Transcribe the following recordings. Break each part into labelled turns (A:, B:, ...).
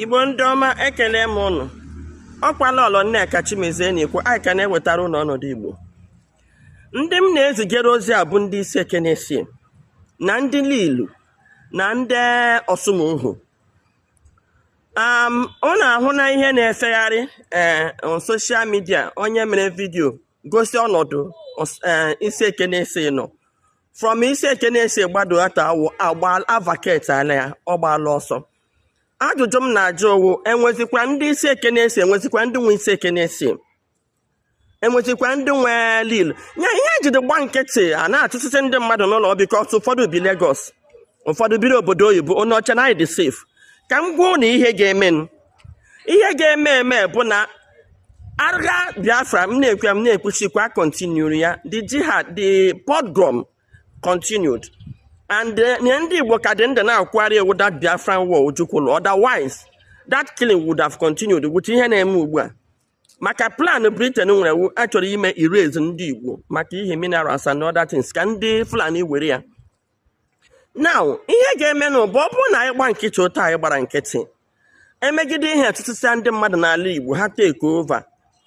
A: igbo ndị ọma ekele m ụnụ ọ kwa lọlọ nneka chimezie na-ekwu anyị ka na-ewetara ụnụ ọnọdụ igbo ndị m na-ezigere ozi a bụ ndị isiekenesi na ndị lilu na ndị ọsụmọghụ ụnụ ahụna ihe na-efegharị ee eh, soshal midia onye mere vidiyo gosi ọnọdụ eh, isiekenesi nọ from isiekenesi gbado ata awụ agba a vacateala ya ọ gbaala ọsọ ajụjụ m na-ajụ ọ wụ enwezikwa ndị isiekenesi enwezikwa ndị nwe isiekenesi enwezikwa ndị nwe lilu ya ihe e jide gba nkịtị a na-achụsịsị ndị mmadụ n'ụlọ because ụfọdụ bi Lagos ụfọdụ biri obodo oyibo ụnụ eche na anyị dị safe ka m gwa ụnụ ihe ga-emenụ ihe ga-eme eme bụ na agha biafra m na-ekwe m na-ekwuchikwa kontinuru ya the jihad the pogrom continued and eh, ihe ndị igbo ka dị ndụ na-akwụgharị ọ wụ that biafran war ojukwu lụrụ otherwise that killing would have continued with ihe na-eme ugbu a maka plan britain nwere wụ a chọrọ ime erase ndị igbo maka ihe minerals and other things ka ndị fulani were ya now ihe ga-emenụ bụ ọ bụrụ na anyị gba nkịtị otu anyị gbara nkịtị emeghịdị ihe achụsịsịa ndị mmadụ n'ala Igbo ha take over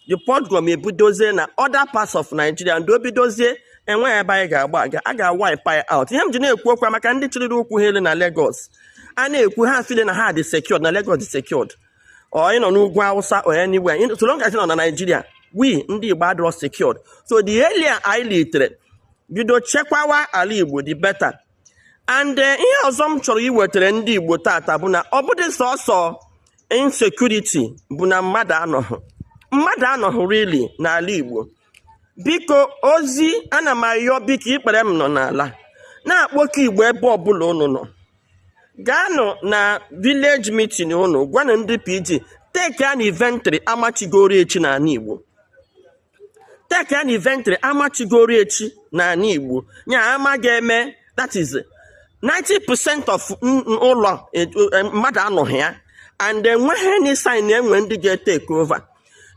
A: the pogrom ebidozie na other parts of Nigeria and o bidozie enweghị ebe anyị ga-agba aga a ga-wipe anyị out ihe m ji na-ekwu okwu maka ndị chịlịrị ụkwụ ha elu na Lagos a na-ekwu ha feel na ha dị secured na Lagos dị secured or ị nọ n'ugwu awụsa or anywhere in- so long as ị nọ na naijiria we ndị igbo adịrọ secured so the earlier anyị litere bido chekwawa ala igbo the better and eh, ihe ọzọ m chọrọ iwetara ndị igbo tata bụ na ọ bụdị sọsọ insecurity bụ na mmadụ anọghị mmadụ anọghị really n'ala igbo biko ozi ana m ayọ biko ikpere m nọ n'ala na-akpọku igbo ebe ọbụla unu nọ gaanụ na village meeting unu gwanụ ndị pg take an inventory ama chigoro echi n'ala igbo take an inventory ama chigoro echi n'ala igbo ya ama ga-eme that is 90% of ụlọ e, e, mmadụ anọghị ya and enweghị any sign enwe ndị ga-etake over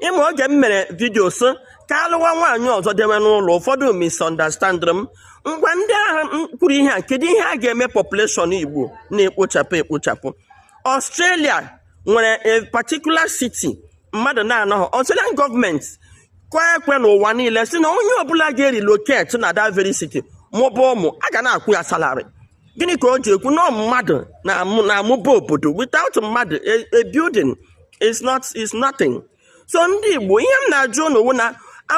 A: ị ma oge m mere vidio sị ka a lụwa nwaanyị ọzọ dewe n'ụlọ ụfọdụ misunderstandịrị m ngwa ndị ahụ kwuru ihe a kedu ihe a ga-eme population igbo na-ekpochapụ ekpochapụ australia nwere a particular city mmadụ na-anọghị australian gọọmenti kụọ ekwe n'ụwa niile sị na onye ọbụla ga-erelocate na that very city mụba ụmụ a ga na-akwụ ya salary gịnị ka o ji ekwu na mmadụ na-amụba obodo without mmadụ a building it's not it's nothing so ndị igbo ihe m na-ajụ ụnụ wụ na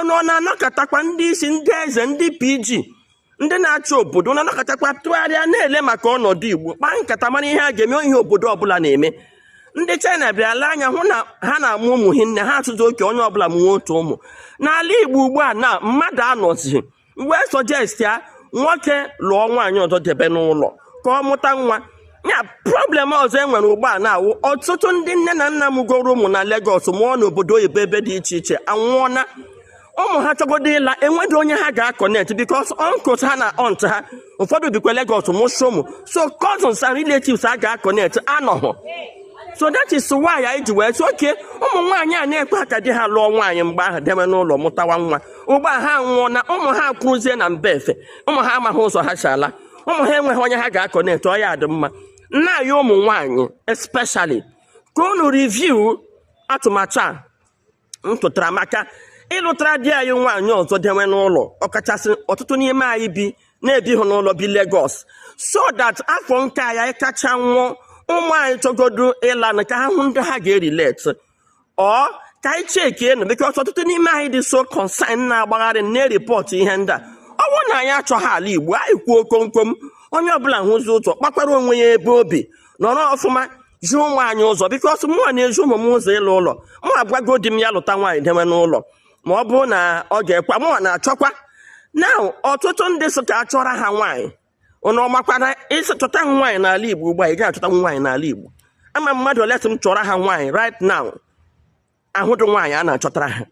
A: ụnụ ọ na-anọkọtakwa ndị isi ndị eze ndị pg ndị na-achị obodo na-anọkọtakwa tụgharịa na-ele maka ọnọdụ igbo kpaa nkata mara ihe a ga-eme ihe obodo ọbụla na-eme ndị china bịa lee anya hụ na ha na-amụ ụmụ hinne ha atụzi oke onye ọbụla mụwa otu ụmụ n'ala igbo ugbu a na mmadụ anọzi wee suggest ya nwoke lụọ nwaanyị ọzọ debe n'ụlọ ka ọ mụta nwa ya problem ọzọ e nwere ugbu a na-awụ ọtụtụ ndị nne na nna mụgoro ụmụ na Lagos mụọ n'obodo oyibo ebe dị iche iche anwụọna ụmụ ha chọgodo ịla enweghị onye ha ga-aconnect because uncles ha na aunt ha ụfọdụ bikwa Lagos mụsụ ụmụ so cousins and relatives ha ga-aconnect anọghọ so that is why anyị ji wee sị okay ụmụ nwaanyị a na-ekwe ka di ha lụọ nwaanyị mgbe ahụ debe n'ụlọ mụtawa nwa ugbu a ha anwụọna ụmụ ha akwụrụzie na mba efe ụmụ ha amaghị ụzọ ha si ala ụmụ ha enweghị onye ha ga-aconnect ọ ya-adị mma na anyị ụmụ nwaanyị especially ka unu review atụmatụ a m tụtara maka ịlụtara di anyị nwaanyị ọzọ dewe n'ụlọ ọkachasị ọtụtụ n'ime anyị bi na-ebihụ n'ụlọ bi Lagos so that afọ nke anyị kacha nwụọ ụmụ anyị chọgodu ịla na ka ha hụ ndị ha ga-erelate ọ ka anyị checkie nụ because ọtụtụ n'ime anyị dị so concern na-agbagharị na-ereport ihe ndị a ọ bụrụ na anyị achọghị ala igbo anyị kwuo komkom onye ọbụla hụzi ụzọ kpakwara onwe ya ebe obi nọrọ ọfụma zi ụmụ anyị ụzọ because mụnwa na-ezi ụmụ m ụzọ ịla ụlọ mụ agwago di m ya lụta nwaanyị dewe n'ụlọ ma ọ bụrụ na ọ ga-ekwe mụnwa na-achọkwa na ọtụtụ ndị sị ka achọra ha nwaanyị ụnụ ọ makwa na ị sị chọta nwaanyị n'ala Igbo ugbu a ị ga-achọta nwaanyị n'ala Igbo ama m mmadụ ole sị m chọọrọ ha nwaanyị right now ahụdụ nwaanyị a na-achọtara ha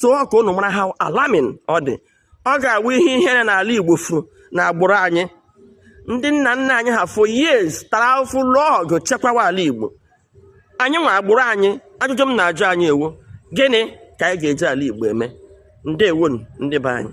A: so ọ ka ụnụ mara how alarming ọ dị ọ ga-awụ ihe ihere na ala Igbo furu n'agbụrụ anyị ndị nna nna anyị ha for years tara afụfụ lụọ ọgụ chekwawa ala Igbo anyị nwa agbụrụ anyị ajụjụ m na-ajụ anyị wụ gịnị ka anyị ga-eji ala Igbo eme ndewonu ndị be anyị